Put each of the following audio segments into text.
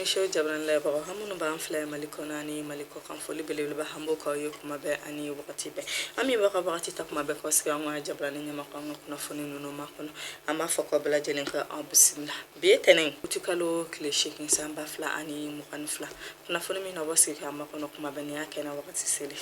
so jabarani lajɛbagaw aw minnu b'an filɛ mali kɔnɔ ani mali kɔkan foli belebeleba an b'o k'aw ye kuma bɛɛ ani wagati bɛɛ aw min b'aw ka wagati ta kuma bɛɛ k'aw sigi an ka jabarani ɲɛma ko an ka kunnafoni ninnu makɔnɔ an b'a fɔ k'aw bɛɛ lajɛlen ka aw bisimila Bi ye tɛnɛn ye uti kalo tile 8 san 2022 kunnafoni min n'aw b'aw sigi k'a makɔnɔ kuma bɛɛ nin y'a kɛnɛ wagati selen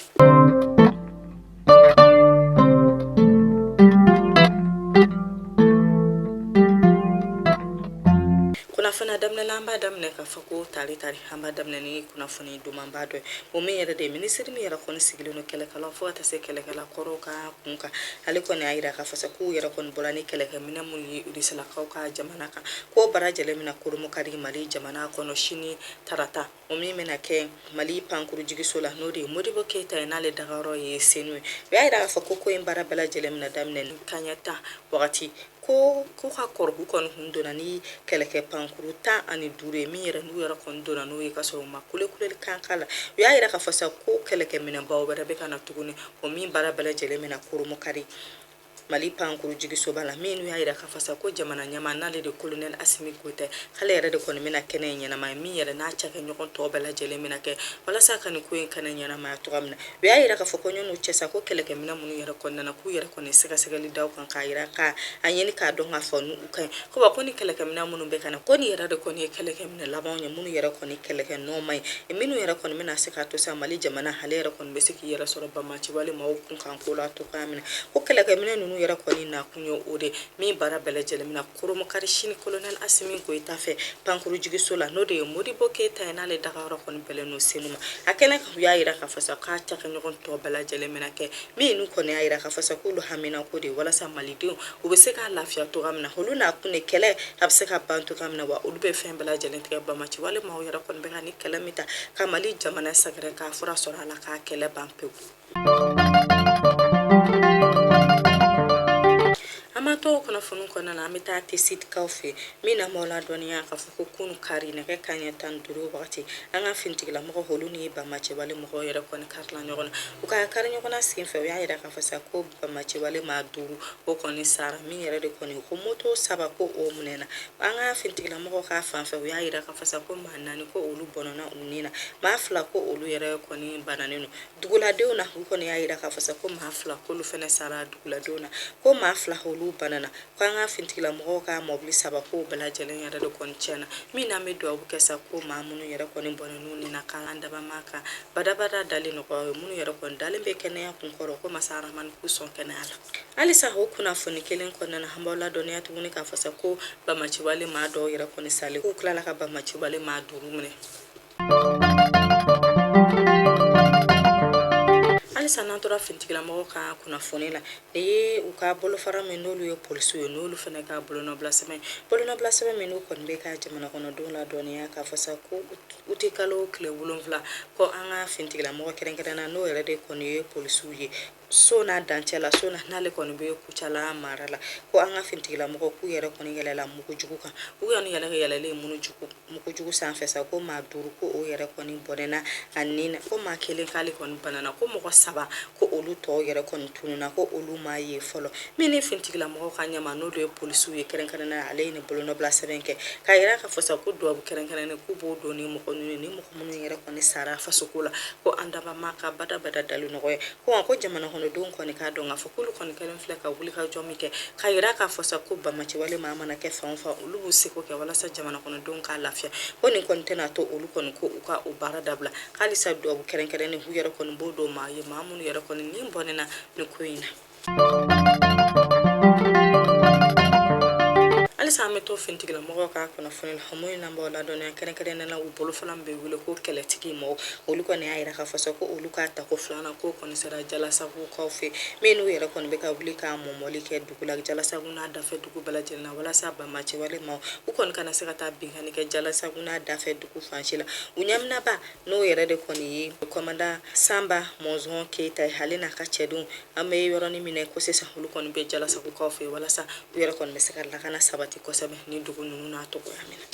kunnafoni a daminɛ na an b'a daminɛ k'a fɔ ko tari tari an b'a daminɛ ni kunnafoni dumanba dɔ ye o min yɛrɛ de ye minisiri min yɛrɛ kɔni sigilen don kɛlɛkɛlaw fo ka taa se kɛlɛkɛla kɔrɔw ka kun kan ale kɔni y'a jira k'a fɔ sa k'u yɛrɛ kɔni bɔra ni kɛlɛkɛminɛn minnu ye orisilakaw ka jamana kan k'o bɛɛ lajɛlen bɛna kurunbonkari mali jamana kɔnɔ sini tarata o min bɛna kɛ mali pankuru jigiso la n'o de ye modibo keyita ye n'ale dagayɔrɔ ye senu ye o y'a jira k'a fɔ ko ko in baara bɛɛ lajɛlen bɛna daminɛ nɛgɛ kanɲɛ tan wagati ko k'u ka kɔrɔbu kɔni tun donna ni kɛlɛkɛ pankuru tan ani duuru ye min yɛrɛ n'u yɛrɛ kɔni donna n'o ye ka sɔrɔ u ma kulekuleli kan ka la u y'a yira k'a fɔ sa ko kɛlɛkɛ minɛnbaw wɛrɛ bɛ ka na tuguni o min baara bɛɛ lajɛlen bɛna kurunbonkari mali pankuru jigisoba la min n'u y'a yira k'a fɔ sa ko jamana ɲɛmaa n'ale de kolonɛli asimi goyita k'ale yɛrɛ de kɔni bɛna kɛnɛ in ɲɛnamaya min yɛrɛ n'a cakɛɲɔgɔn tɔw bɛɛ lajɛlen bɛna kɛ walasa ka nin ko in kɛnɛ ɲɛnamaya cogoya min na U y'a jira k'a fɔ ko ɲɔgɔn cɛ sa ko kɛlɛkɛminɛn minnu yɛrɛ kɔni nana k'u yɛrɛ kɔni sɛgɛsɛgɛli da kan k'a jira k'a ɲini k'a dɔn ka fɔ u kan ko ko ni kɛlɛkɛminɛn minnu bɛ ka na ko nin yɛrɛ de kɔni ye kɛlɛkɛ minɛn labanw ye minnu yɛrɛ kɔni kɛlɛkɛ nɔma ye minnu yɛrɛ kɔni bɛna na se k'a to sa mali jamana ale yɛrɛ kɔni bɛ se k'i yɛrɛ sɔrɔ bagamaci wale maa kunkanko la cogo min na ko kɛlɛkɛminɛn ninnu yɛrɛ kɔni na kun ye o de min baara bɛɛ lajɛlen na Kurunbonkari sini kolonɛli asimi goyita fɛ pankuru jigiso la n'o de ye modibo keyita ye n'ale dagayɔrɔ kɔni bɛnnen don senu ma a kɛnɛ kan u y'a jira k'a fɔ sa k'a cakɛɲɔgɔn tɔw bɛɛ lajɛlen bɛna kɛ min n'u kɔni y'a jira k'a fɔ sa k'olu haminako de walasa malidenw u bɛ se ka lafiya cogo min na olu nakun de kɛlɛ a bɛ se ka ban cogo min na wa olu bɛ fɛɛrɛ bɛɛ lajɛlen tigɛ bagamaci wale maa yɛrɛ kɔni bɛ nin kɛlɛ min ta ka mali jamana sɛgɛrɛ ka fura sɔrɔ a la k'a kɛlɛ ban pewu An bɛ to kunnafoni kɔnɔna na an bɛ taa tesitikaw fɛ min n'an b'aw ladɔnniya k'a fɔ ko kunun kari nɛgɛ kanɲɛ tan duuru wagati an ka finitigila mɔgɔ olu ni bagamaci wale mɔgɔ yɛrɛ kɔni karila ɲɔgɔn na u ka kariɲɔgɔnna senfɛ u y'a yira k'a fɔ sa ko bagamaci wale maa duuru o kɔni sara min yɛrɛ de kɔni ko moto saba ko o minɛna an ka finitigila mɔgɔ ka fanfɛ u y'a yira k'a fɔ sa ko maa naani ko olu bɔnɛna u nin na maa fila ko olu yɛrɛ kɔni bananen don duguladenw na u kɔni y'a yira k'a fɔ sa ko maa fila k'olu fana sara duguladenw na ko maa fila olu banana ko an ka finitigilamɔgɔw ka mɔbili saba k'o bɛɛ lajɛlen yɛrɛ de kɔni tiɲɛna min n'an bɛ dubabu kɛ sa ko maa minnu yɛrɛ kɔni bɔnɛn'u ni na k'an dabaa ma ka badabada dali nɔgɔya ye minnu yɛrɛ kɔni dalen bɛ kɛnɛya kun kɔrɔ ko masa aramani k'u sɔn kɛnɛya la halisa o kunnafoni kelen kɔnɔna na an b'aw ladɔnniya tuguni k'a fɔ sa ko banbaanciwale maa dɔw yɛrɛ kɔni salen k'u tilala ka banbaanciwale maa duuru minɛ halisa n'an tora finitigilamɔgɔw ka kunnafoni la nin ye u ka bolofara min n'olu ye polisiw ye n'olu fana ka bolonɔbilasɛbɛn ye bolonɔbilasɛbɛn min n'u kɔni bɛ ka jamanakɔnɔdenw ladɔnniya k'a fɔ sa ko utikalo tile wolonfila ko an ka finitigilamɔgɔ kɛrɛnkɛrɛnna n'o yɛrɛ de kɔni ye polisiw ye sona dancɛ la sona n'ale kɔni bɛ kucala mara la ko an ka finitigilamɔgɔ k'u yɛrɛ kɔni yɛlɛla mugujugu kan u yɛrɛ yɛlɛ yɛlɛlen mugujugu mugujugu sanfɛ sa ko maa duuru ko o yɛrɛ kɔni bɔnɛna a ni na ko maa kelen k'ale kɔni banana ko mɔgɔ saba ko olu tɔw yɛrɛ kɔni tununa ko olu ma ye fɔlɔ min ni finitigilamɔgɔ ka ɲɛmaa n'olu ye polisiw ye kɛrɛnkɛrɛnnenya ale ye nin bolonɔbila sɛbɛn kɛ k'a yira k'a fɔ sa ko dubabu kɛrɛnkɛrɛnnen k'u b'o don ni mɔgɔ ninnu ni mɔgɔ minnu yɛrɛ kɔni sara fasoko la ko an dabaa ma ka badabada dali nɔgɔya ko ko jamana kɔnɔdenw kɔni k'a dɔn k'a fɔ k'olu kɔni kɛlen filɛ ka wuli ka jɔ min kɛ k'a yira k'a fɔ sa ko banbaanciwale maa mana kɛ fan o fan olu b'u seko kɛ walasa jamana kɔnɔdenw ka lafiya ko nin kɔni tɛna to olu kɔni ko u ka u baara dabila halisa dubabu kɛrɛnkɛrɛnnen k'u yɛrɛ kɔni b'o don maa ye maa minnu yɛrɛ kɔni ni bɔnɛna nin ko in na halisa an bɛ to finitigilamɔgɔw ka kunnafoni la o min na an b'aw ladɔnniya kɛrɛnkɛrɛnnen na u bolofara min bɛ wele ko kɛlɛtigi mɔgɔw olu kɔni y'a yira k'a fɔ sa ko olu ka taako filanan ko kɔni sera jalasagokaw fɛ min n'u yɛrɛ kɔni bɛ ka wuli ka mɔmɔli kɛ dugu la jalasago n'a dafɛ dugu bɛɛ lajɛlen na walasa banbaanciwale maaw kɔni kana se ka taa binkanni kɛ jalasago n'a dafɛ dugu fan si la u ɲɛminɛbaa n'o yɛrɛ de kɔni ye kɔmandan sanba mɔnzɔn keyita ye ale n'a ka cɛdenw an bɛ yɔrɔnin min na ko sisan olu kɔni bɛ jalasagokaw fɛ walasa u yɛrɛ kɔni bɛ se ka lakana sabati kosɛbɛ nin dugu ninnu na cogoya min na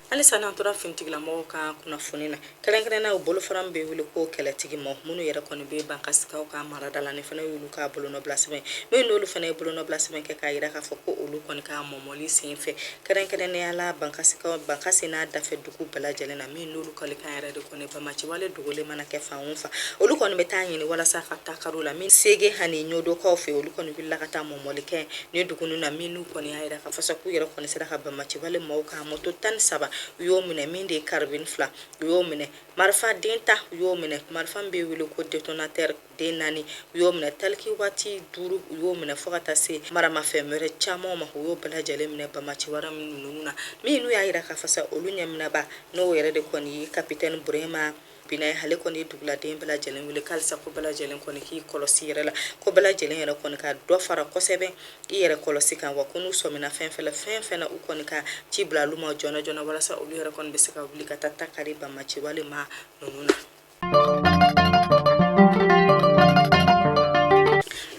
halisa n'an tora finitigilamɔgɔw ka kunnafoni na kɛrɛnkɛrɛnna u bolofara min bɛ wele ko kɛlɛtigi mɔɔ minnu yɛrɛ kɔni bɛ bankasikaw ka marada la nin fana y'olu ka bolonɔbila sɛbɛn n'o ye n'olu fana ye bolonɔbila sɛbɛn kɛ k'a yira k'a fɔ ko olu kɔni ka mɔmɔli sen fɛ kɛrɛnkɛrɛnnenya la bankasikaw bankasi n'a dafɛ dugu bɛɛ lajɛlen na min n'olu kalikan yɛrɛ de kɔni banbaanciwale dogolen mana kɛ fan o fan olu kɔni bɛ taa ɲini walasa ka taa karo la min sege ani ɲodokaw fɛ olu kɔni wulila ka taa mɔmɔli kɛ nin dugu ninnu na min n'u kɔni y'a yira k'a fɔ sa k'u yɛrɛ kɔni sera ka banbaanciwale mɔɔw ka a moto tan ni saba u y'o minɛ min de ye karibini fila u y'o minɛ marifa den tan u y'o minɛ marifa min bɛ wele ko detonatɛri den naani u y'o minɛ taliki waati duuru u y'o minɛ fo ka taa se maramafɛn wɛrɛ caman ma u y'o bɛɛ lajɛlen minɛ bamaciwale maa ninnu na min n'u y'a yira k'a fɔ sa olu ɲɛminaba n'o yɛrɛ de kɔni ye kapitɛni burema Bina ale kɔni ye duguladen bɛɛ lajɛlen wele halisa ko bɛɛ lajɛlen kɔni k'i kɔlɔsi yɛrɛ la ko bɛɛ lajɛlen yɛrɛ kɔni ka dɔ fara kosɛbɛ i yɛrɛ kɔlɔsi kan wa ko n'u sɔmina fɛn fɛn la fɛn fɛn u kɔni ka ci bila olu ma joona joona walasa olu yɛrɛ kɔni bɛ se ka wuli ka taa ta kari bamaciwale maa ninnu na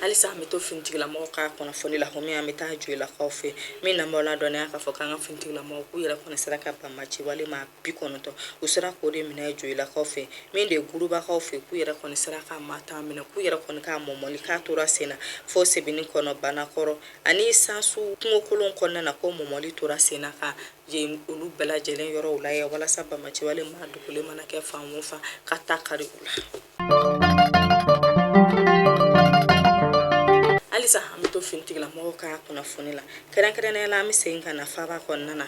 halisa an bɛ to finitigilamɔgɔw ka kunnafoni la ko min an bɛ taa joyilakaw fɛ min na ladɔnniya k'a fɔ k'an ka finitigilamɔgɔw k'u yɛrɛ kɔni sera ka bamaciwale maa bi kɔnɔntɔn u sera k'o de minɛ joyilakaw fɛ min de ye gurubakaw fɛ k'u yɛrɛ kɔni sera ka maa tan minɛ k'u yɛrɛ kɔni ka mɔmɔli k'a tora sen na fo sebini kɔnɔ banakɔrɔ ani sansu kungokolon kɔnɔna na ko mɔmɔli tora sen na ka yen olu bɛɛ lajɛlen yɔrɔw lajɛ walasa bamaciwale maa dogolen mana kɛ fan o fan ka ta kari u la halisa an bɛ to finitigilamɔgɔw ka kunnafoni la kɛrɛnkɛrɛnnenya la an bɛ segin ka na faaba kɔnɔna na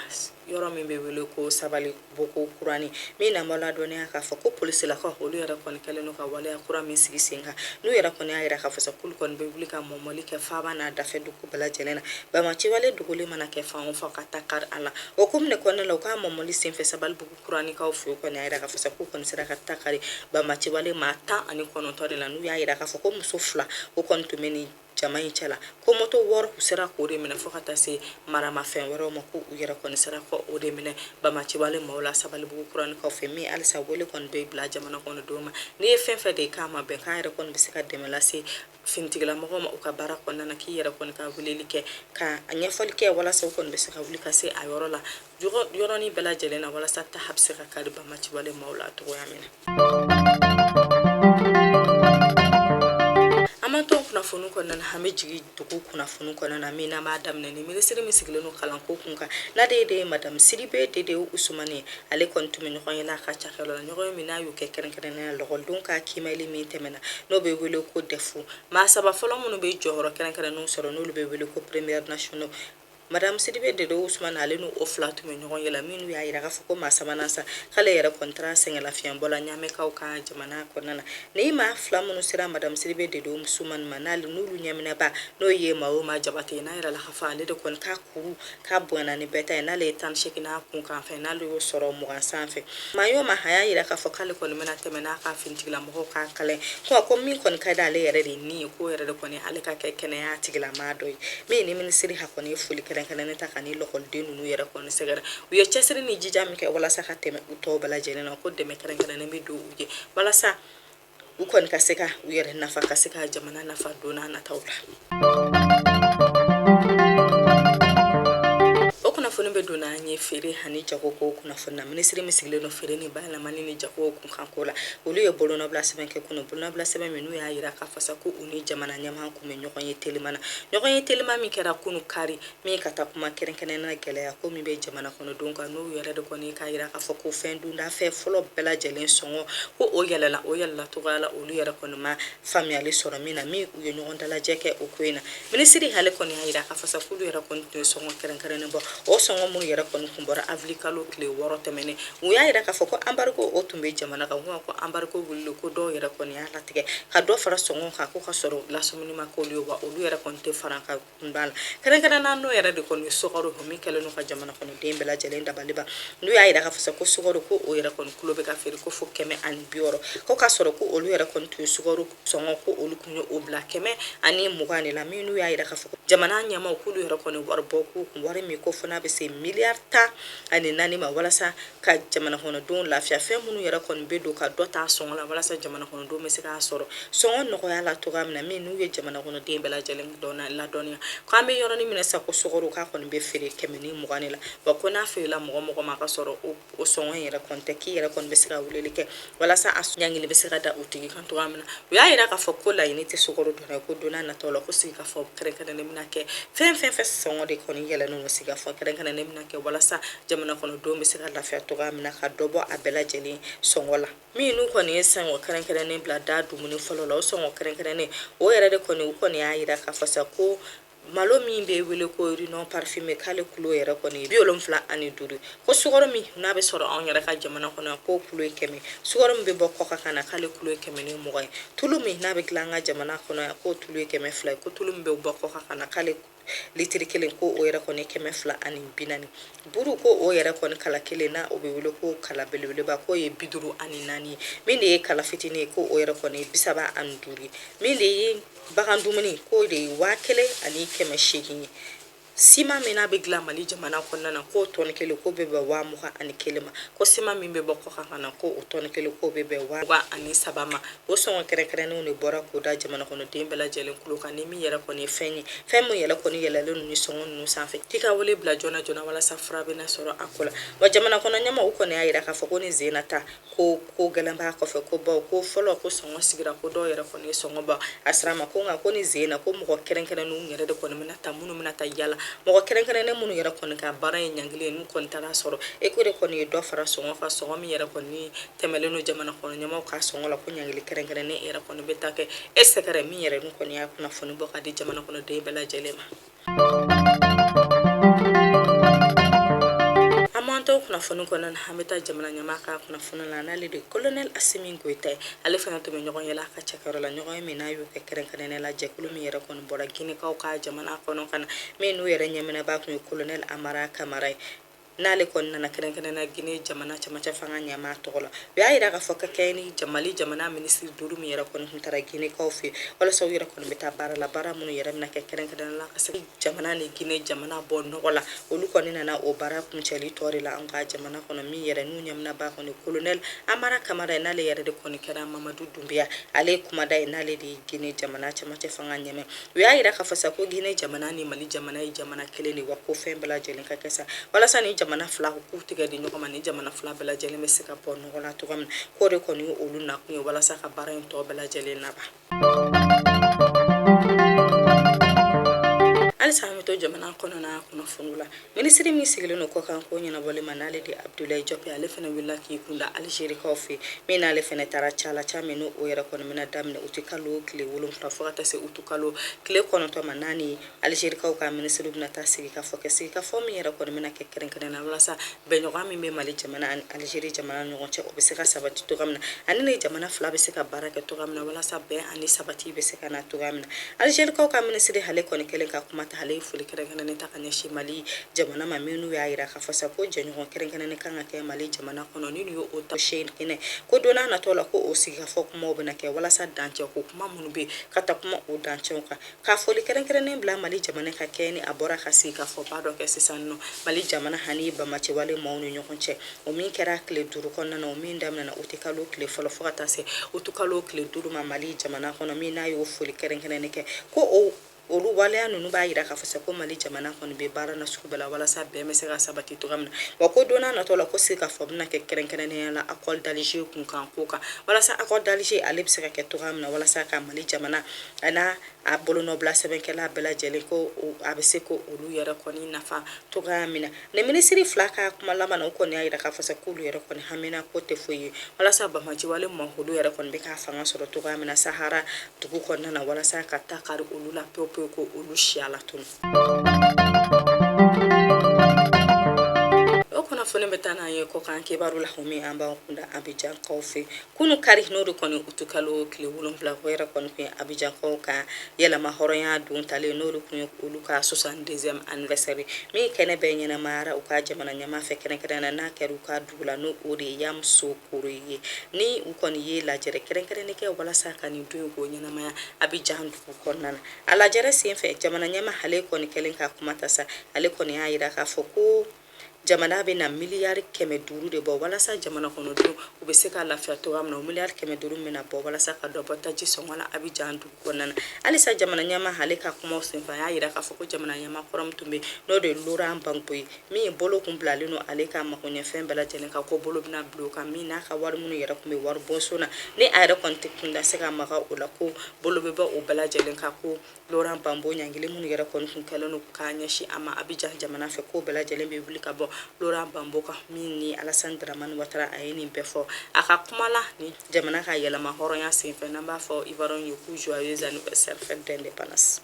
yɔrɔ min bɛ wele ko sabalibugu kurani min n'an b'a ladɔnniya k'a fɔ ko polisilakaw olu yɛrɛ kɔni kɛlen don ka waleya kura min sigi sen kan n'u yɛrɛ kɔni y'a yira k'a fɔ sa k'olu kɔni bɛ wuli ka mɔmɔli kɛ faaba n'a dafɛ dugu bɛɛ lajɛlen na bamaciwale dogolen mana kɛ fan o fan ka taa kari a la o komin ne kɔnɔna la u ka mɔmɔli senfɛ sabalibugu kuranikaw fɛ u kɔni y'a yira k'a fɔ sa k'u kɔni sera ka ta kari bamaciwale maa tan ani kɔnɔntɔn de la n'u y'a yira k'a fɔ ko muso fila o kɔni tun bɛ nin jama in cɛla ko moto wɔɔrɔ u sera k'o de minɛ fo ka taa se maramafɛn wɛrɛw ma ko u yɛrɛ kɔni sera ka o de minɛ bamaciwale maaw la sabalibugu kuranikaw fɛ min halisa wele kɔni bɛ bila jamana kɔnɔdenw ma n'i ye fɛn fɛn de ye k'a ma bɛn k'an yɛrɛ kɔni bɛ se ka dɛmɛ lase finitigilamɔgɔw ma u ka baara kɔnɔna na k'i yɛrɛ kɔni ka weleli kɛ ka a ɲɛfɔli kɛ walasa u kɔni bɛ se ka wuli ka se a yɔrɔ la yɔrɔnin bɛɛ lajɛlen na walasa taa bɛ se ka kari bamaciwale maaw la cogoya min na an ma to kunnafoni kɔnɔna an bɛ jigin dugu kunnafoni kɔnɔna na min na b'a daminɛ ni minisiri min sigilen don kalanko kun kan n'a de de ye madame sidibe dedewu usumani ye ale kɔni tun bɛ ɲɔgɔn ye n'a ka cakɛda la ɲɔgɔn min n'a y'o kɛ kɛrɛnkɛrɛnnenya la lakɔlidenw ka kiimɛli min tɛmɛna n'o bɛ wele ko dɛfu maa saba fɔlɔ minnu bɛ jɔyɔrɔ kɛrɛnkɛrɛnnenw sɔrɔ n'olu bɛ wele ko premiers nationaux madame sidibe dedewu usumani ale n'o fila tun bɛ ɲɔgɔn ye la minnu y'a yira k'a fɔ ko maa sabanan sa k'ale yɛrɛ kɔni taara sɛgɛnlafiɲɛbɔ la ɲamɛkaw ka jamana kɔnɔna na ni maa fila minnu sera madame sidibe dedewu usumani ma n'ale n'olu ɲɛminɛba n'o ye mahoma jabate n'a yirala k'a fɔ ale de kɔni ka kuru ka bonyana ni bɛɛ ta ye n'ale ye tan ni segin n'a kunkanfɛn n'ale y'o sɔrɔ mugan sanfɛ Mayoma a y'a yira k'a fɔ k'ale kɔni bɛna tɛmɛ n'a ka finitigilamɔgɔw ka kalan ko ko min kɔni ka di ale yɛrɛ de ni ye k'o yɛrɛ de kɔni ale ka kɛ kɛnɛya tigilamaa dɔ ye min ni minisiri ha kɔni ye foli kɛrɛnkɛrɛnnen ta ka ni lakɔliden ninnu yɛrɛ kɔni sɛgɛrɛ u ye cɛsiri ni jija min kɛ walasa ka tɛmɛ u tɔw bɛɛ lajɛlen na ko dɛmɛ kɛrɛnkɛrɛnnen bɛ don u ye walasa u kɔni ka se ka u yɛrɛ nafa ka se ka jamana nafa don n'a nataw la o kunnafoni bɛ don n'an ye feere ani jago ko kunnafoni na minisiri min sigilen don feere ni bayɛlɛmani ni jago kunkanko la olu ye bolonɔbila sɛbɛn kɛ kunu bolonɔbila sɛbɛn min n'u y'a yira k'a fɔ sa ko u ni jamana ɲɛmaa kun bɛ ɲɔgɔnye telima na ɲɔgɔnye telima min kɛra kunu kari min ka taa kuma kɛrɛnkɛrɛnna gɛlɛya ko min bɛ jamana kɔnɔdenw kan n'o yɛrɛ de kɔni k'a yira k'a fɔ ko fɛn duntafɛn fɔlɔ bɛɛ lajɛlen sɔngɔ ko o yɛlɛla o yɛlɛla cogoya la olu yɛrɛ kɔni ma faamuyali sɔrɔ min na min u ye ɲɔgɔn dalajɛ kɛ o ko in na minisiri ale kɔni y'a yira k'a fɔ sa k'olu yɛrɛ kɔni tun ye sɔngɔ kɛrɛnkɛrɛnnen bɔ o sɔngɔ minnu yɛrɛ kɔni tun bɔra avili kalo tile wɔɔrɔ tɛmɛnen u y'a yira k'a fɔ ko anbariko o tun bɛ jamana kan ko anbariko wulili kɔ dɔw yɛrɛ kɔni y'a latigɛ ka dɔ fara sɔngɔ kan ko ka sɔrɔ lasɔmini ma k'olu ye wa olu yɛrɛ kɔni tɛ farankan b'a la kɛrɛnkɛrɛnna n'o yɛrɛ de kɔni ye sukaro min kɛlen don ka jamana kɔnɔden bɛɛ lajɛlen dabali ban n'u y'a yira k'a fɔ sa ko sukaro ko o yɛrɛ kɔni kulo bɛ ka feere ko fo kɛmɛ ani bi wɔɔrɔ ko ka sɔrɔ ko olu yɛrɛ kɔni tun ye sukaro sɔngɔ ko olu tun ye o bila kɛmɛ ani mugan de la min n'u y'a yira k'a fɔ jamana ɲɛmaaw k'olu yɛrɛ kɔni wari bɔ k'u kun wari min ko fo n'a bɛ se miliyari tan ani naani ma walasa ka jamana kɔnɔdenw lafiya fɛn minnu yɛrɛ kɔni bɛ don ka dɔ ta sɔngɔ la walasa jamana kɔnɔdenw bɛ se k'a sɔrɔ sɔngɔ nɔgɔya la cogoya min na min n'u ye jamana kɔnɔden bɛɛ lajɛlen ladɔnniya k'an bɛ yɔrɔnin min na sa ko sukaro k'a kɔni bɛ feere kɛmɛ ni mugan de la wa ko n'a feerela mɔgɔ mɔgɔ ma ka sɔrɔ o sɔngɔ yɛrɛ kɔni tɛ k'i yɛrɛ kɔni bɛ se ka weleli kɛ walasa a ɲangili bɛ se ka da o tigi kan cogoya min na u y'a yira k'a fɔ ko laɲini tɛ sukaro dɔrɔn ye ko don n'a nataw la ko sigikafɔ kɛrɛnkɛrɛnnen bɛna kɛ fɛn fɛn fɛn sɔngɔ de kɔni yɛlɛnnen don sigikafɔ kɛrɛnkɛrɛnnen bɛna kɛ walasa jamana kɔnɔdenw bɛ se ka lafiya cogoya min na ka dɔ bɔ a bɛɛ lajɛlen sɔngɔ la min n'u kɔni ye sɔngɔ kɛrɛnkɛrɛnnen bila da dumuni fɔlɔ la o sɔngɔ kɛrɛnkɛrɛnnen o yɛrɛ de kɔni u kɔni y'a yira k'a fɔ sa ko malo min bɛ wele ko non parfumé k'ale kulo yɛrɛ kɔni ye bi wolonwula ani duuru ko sukaro min n'a bɛ sɔrɔ anw yɛrɛ ka jamana kɔnɔ k'o kulo ye kɛmɛ sukaro min bɛ bɔ kɔkan ka na k'ale kulo ye kɛmɛ ni mugan ye tulu min n'a bɛ dilan an ka jamana kɔnɔ yan k'o tulu ye kɛmɛ fila ye ko tulu min bɛ bɔ kɔkan ka na k'ale litiri kelen ko o yɛrɛ kɔni kɛmɛ fila ani bi naani buru ko o yɛrɛ kɔni kala kelen na o bɛ wele ko kala belebeleba k'o ye bi duuru ani naani ye min de ye kala fitinin ye ko o yɛrɛ kɔni ye bisaba ani duuru ye min de ye bagan dumuni k'o de ye waa kelen ani kɛmɛ seegin ye siman min n'a bɛ dilan mali jamana kɔnɔna na k'o tɔni kelen k'o bɛ bɛn waa mugan ani kelen ma ko siman min bɛ bɔ kɔkan ka na ko o tɔni kelen k'o bɛ bɛn waa mugan ani saba ma o sɔngɔ kɛrɛnkɛrɛnnenw de bɔra k'o da jamana kɔnɔden bɛɛ lajɛlen kulo kan ni min yɛrɛ kɔni ye fɛn ye fɛn min yɛrɛ kɔni yɛlɛlen ninnu ni sɔngɔ ninnu sanfɛ k'i ka wele bila joona joona walasa fura bɛna sɔrɔ a ko la wa jamana kɔnɔ ɲɛmaaw kɔni y'a yira k'a fɔ ko nin sen na ta ko ko gɛlɛn b'a kɔfɛ ko baw ko fɔlɔ ko sɔngɔ sigira ko dɔw yɛrɛ kɔni ye sɔngɔ bɔ a sira ma ko nka ko nin sen na ko mɔgɔ kɛrɛnkɛrɛnnenw yɛrɛ de kɔni bɛna taa minnu bɛna taa yala mɔgɔ kɛrɛnkɛrɛnnen minnu yɛrɛ kɔni ka baara ye ɲangili ye n'u kɔni taara sɔrɔ e ko de kɔni ye dɔ fara sɔngɔ kan sɔngɔ min yɛrɛ kɔni tɛmɛlen don jamana kɔnɔ ɲɛmaaw ka sɔngɔ la ko ɲangili kɛrɛnkɛrɛnnen yɛrɛ kɔni bɛ taa ka e sɛgɛrɛ min yɛrɛ n'u kɔni y'a kunnafoni bɔ ka di jamana kɔnɔden bɛɛ lajɛlen ma kunnafoni kɔnɔna na an bɛ taa jamana ɲɛmaa ka kunnafoni la n'ale de kolonɛli asimi goyita ye ale fana tun bɛ ɲɔgɔnye la a ka cakɛyɔrɔ la ɲɔgɔnye min n'a y'o kɛ kɛrɛnkɛrɛnnen la jɛkulu min yɛrɛ kɔni bɔra ginekaw ka jamana kɔnɔ ka na min n'u yɛrɛ ɲɛminɛbaa tun ye kolonɛli amara kamara ye n'ale kɔni nana kɛrɛnkɛrɛn na gine jamana camancɛ fanga ɲɛmaa tɔgɔ la u y'a yira k'a fɔ ka kɛɲɛ ni mali jamana minisiri duuru min yɛrɛ kɔni tun taara ginekaw fɛ walasa u yɛrɛ kɔni bɛ taa baara la baara minnu yɛrɛ bɛna kɛ kɛrɛnkɛrɛn la ka se jamana ni gine jamana bɔ nɔgɔ la olu kɔni nana o baara kuncɛli tɔ de la an ka jamana kɔnɔ min yɛrɛ n'u ɲɛminɛbaa kɔni kolonɛli amara kamara ye n'ale yɛrɛ de kɔni kɛra mamadu dunbiya ale ye kumada ye n'ale de ye gine jamana camancɛ fanga ɲɛmaa ye u y'a yira k'a fɔ sa ko gine jamana ni mali jamana ye jamana kelen de wa ko fɛn bɛɛ lajɛlen ka kɛ sa walasa ni jamana fila k'u tigɛ di ɲɔgɔn ma ni jamana fila bɛɛ lajɛlen bɛ se ka bɔ nɔgɔ la cogoya min na k'o de kɔni ye olu nakun ye walasa ka baara in tɔ bɛɛ lajɛlen laban halisa an bɛ to jamana kɔnɔna kunnafoniw la Minisiri min sigilen don kɔkan ko ɲɛnabɔli ma n'ale de Abudulayi Jɔpu ye ale fana wulila k'i kunda Alizerikaw fɛ min n'ale fana taara ca la ca min n'o yɛrɛ kɔni bɛna daminɛ uti kalo tile wolonwula fo ka taa se uti kalo tile kɔnɔntɔn ma n'a ni Alizerikaw ka minisiriw bɛna taa sigikafɔ kɛ sigikafɔ min yɛrɛ kɔni bɛna kɛ kɛrɛnkɛrɛnna walasa bɛnɲɔgɔn min bɛ Mali jamana ani Alizeri jamana ɲɔgɔn cɛ o bɛ se ka sabati cogoya min na ani ni jamana fila bɛ se ka baara kɛ cogoya min na walasa bɛn ani sabati bɛ se ka na cogoya min na Alizerikaw ka minisiri ale kɔni kɛlen ka kuma ta ale ye foli kɛrɛnkɛrɛnnen ta ka ɲɛsin mali jamana ma min n'u y'a yira k'a fɔ sa ko jɛɲɔgɔn kɛrɛnkɛrɛnnen kan ka kɛ mali jamana kɔnɔ ni y'o o ta seyi kɛnɛ ko don nataw la ko o sigikafɔ kumaw bɛna kɛ walasa dancɛ ko kuma minnu bɛ ka ta kuma o dancɛw kan ka foli kɛrɛnkɛrɛnnen bila mali jamana ka kɛ ni a bɔra ka sigikafɔba dɔ kɛ sisan nɔ mali jamana ani bamacɛwale maaw ni ɲɔgɔn cɛ o min kɛra tile duuru kɔnɔna na o min daminɛna uti kalo tile fɔlɔ fo ka taa se uti kalo tile duuru ma mali jamana kɔnɔ min n'a y'o foli kɛrɛnkɛrɛnnen kɛ ko o olu waleya ninnu b'a yira k'a fɔ sa ko mali jamana kɔni bɛ baara na sugu bɛɛ la walasa bɛn bɛ se ka sabati cogoya min na wa ko don n'a natɔ la ko sigikafɔ bɛna kɛ kɛrɛnkɛrɛnnenya la accord d'Alger kunkan ko kan walasa accord d'Alger ale bɛ se ka kɛ cogoya min na walasa ka mali jamana an'a a bolonɔbila sɛbɛnkɛla bɛɛ lajɛlen ko a bɛ se ko olu yɛrɛ kɔni nafa cogoya min na Ni minisiri fila ka kuma laban na u kɔni y'a yira k'a fɔ sa k'olu yɛrɛ kɔni hamina ko tɛ foyi ye walasa bamaciwale maa olu yɛrɛ kɔni bɛ ka fanga sɔrɔ cogoya min na sahara dugu kɔnɔna na walasa ka ta kari olu la pewu pewu ko olu siya la tunun o kunnafoni bɛ taa n'an ye kɔkan kibaru la min an b'an kunda Abijankaw fɛ Kunun kari n'o de kɔni uti kalo tile wolonwula yɛrɛ kɔni tun ye Abijankaw ka yɛlɛma hɔrɔnya don talen n'o de tun ye olu ka soixante-deuxième anniversaire min kɛnɛ bɛɛ ɲɛnamayara u ka jamana ɲɛmaa fɛ kɛrɛnkɛrɛnnen n'a kɛra u ka dugu la n'o de ye Yamusokoro ye ni u kɔni ye lajɛrɛ kɛrɛnkɛrɛnnen kɛ walasa ka nin don ko ɲɛnamaya Abijan dugu kɔnɔna na a lajɛrɛ senfɛ jamana ɲɛmaa ale kɔni kɛlen ka kuma ta sa ale kɔni y'a yira k'a fɔ ko jamana bɛna miliyari kɛmɛ duuru de bɔ walasa jamana kɔnɔdenw u bɛ se ka lafiya cogoya min na o miliyari kɛmɛ duuru bɛna bɔ walasa ka dɔ bɔ taji sɔngɔ la Abijan dugu kɔnɔna na halisa jamana ɲɛmaa ale ka kumaw senfɛ a y'a yira k'a fɔ ko jamana ɲɛmaa kɔrɔ min tun bɛ n'o de ye Laurent Gbagbo ye min bolo kun bilalen don ale ka magoɲɛfɛn bɛɛ lajɛlen kan ko bolo bɛna bila o kan min n'a ka wari minnu yɛrɛ tun bɛ waribonso na ni a yɛrɛ kɔni tɛ kun da se ka maga o la ko bolo bɛ bɔ o bɛɛ lajɛlen kan ko Laurent Gbagbo ɲangili minnu yɛrɛ kɔni kun kɛlen don k'a ɲɛsin a ma Abidjan jamana fɛ k'o bɛɛ lajɛlen bɛ wuli ka bɔ Laurent Gbagbo kan min ni Alassane Dramane Ouattara a ye nin bɛɛ fɔ a ka kuma la ni jamana ka yɛlɛma hɔrɔnya senfɛ n'an b'a fɔ Ivoirien ye ko joyeux anniversaire fête d'indépendance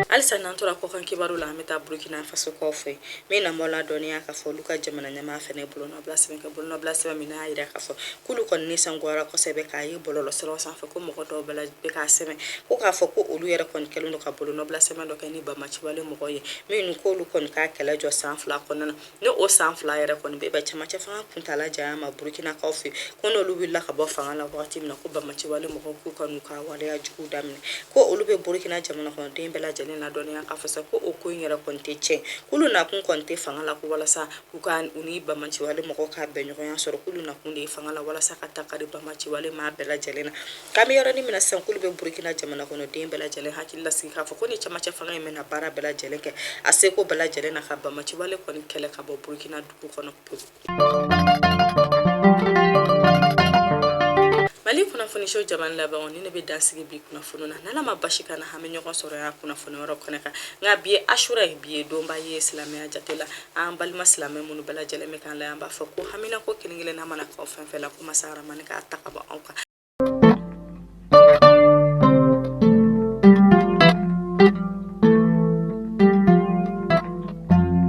halisa n'an tora kɔkan kibaru la an bɛ taa burkina faso kaw fɛ min n'an b'aw ladɔnniya k'a fɔ olu ka jamana ɲɛmaa fɛnɛ bolonɔ bila sɛbɛn kɛ bolonɔbila sɛbɛn min y'a yira k'a fɔ k'olu kɔni nisɔngoyara kosɛbɛ k'a ye bɔlɔlɔ siraw sanfɛ ko mɔgɔ dɔw bɛ bɛ k'a sɛbɛn ko k'a fɔ ko olu yɛrɛ kɔni kɛlen don ka bolonɔbila sɛbɛn dɔ kɛ ni bamaciwale mɔgɔ ye min k'olu kɔni ka kɛlɛ jɔ san fila kɔnɔna na ni o san fila yɛrɛ kɔni bɛ bɛn cɛmancɛ fanga kuntaala janya ma burukinakaw fɛ ko n'olu wulila ka bɔ fanga la wagati min na ko bamaciwale mɔgɔw k'u ka n'u ka waleya juguw daminɛ ko olu bɛ burukina jamana kɔnɔden bɛɛ lajɛlen ladɔnniya k'a fɔ sa ko o ko in yɛrɛ kɔni tɛ tiɲɛ k'olu nakun kɔni tɛ fanga la ko walasa u ka u ni bamaciwale mɔgɔ ka bɛnɲɔgɔnya sɔrɔ k'olu nakun de ye fanga la walasa ka takari bamaciwale maa bɛɛ lajɛlen na k'an bɛ yɔrɔnin min na sisan k'olu bɛ burukina jamana kɔnɔden bɛɛ lajɛlen hakili lasigi k'a fɔ ko ni cɛmancɛ fanga in bɛna baara bɛɛ lajɛlen kɛ a seko bɛɛ lajɛlen na ka bamaciwale kɔni kɛlɛ ka bɔ burukina dugu kɔnɔ mali kunnafoniso jamana laban ni ne bɛ dan sigi bi kunnafoni na n'ala ma basi k'an na an bɛ ɲɔgɔn sɔrɔ yan kunnafoni wɛrɛ kɛnɛ kan nka bi ye asura ye bi ye donba ye silamɛya jate la an balima silamɛ minnu bɛɛ lajɛlen bɛ kan la an b'a fɔ ko hamina ko kelen kelen n'a mana k'aw fɛn fɛn la ko masa Aramani k'a ta ka bɔ aw kan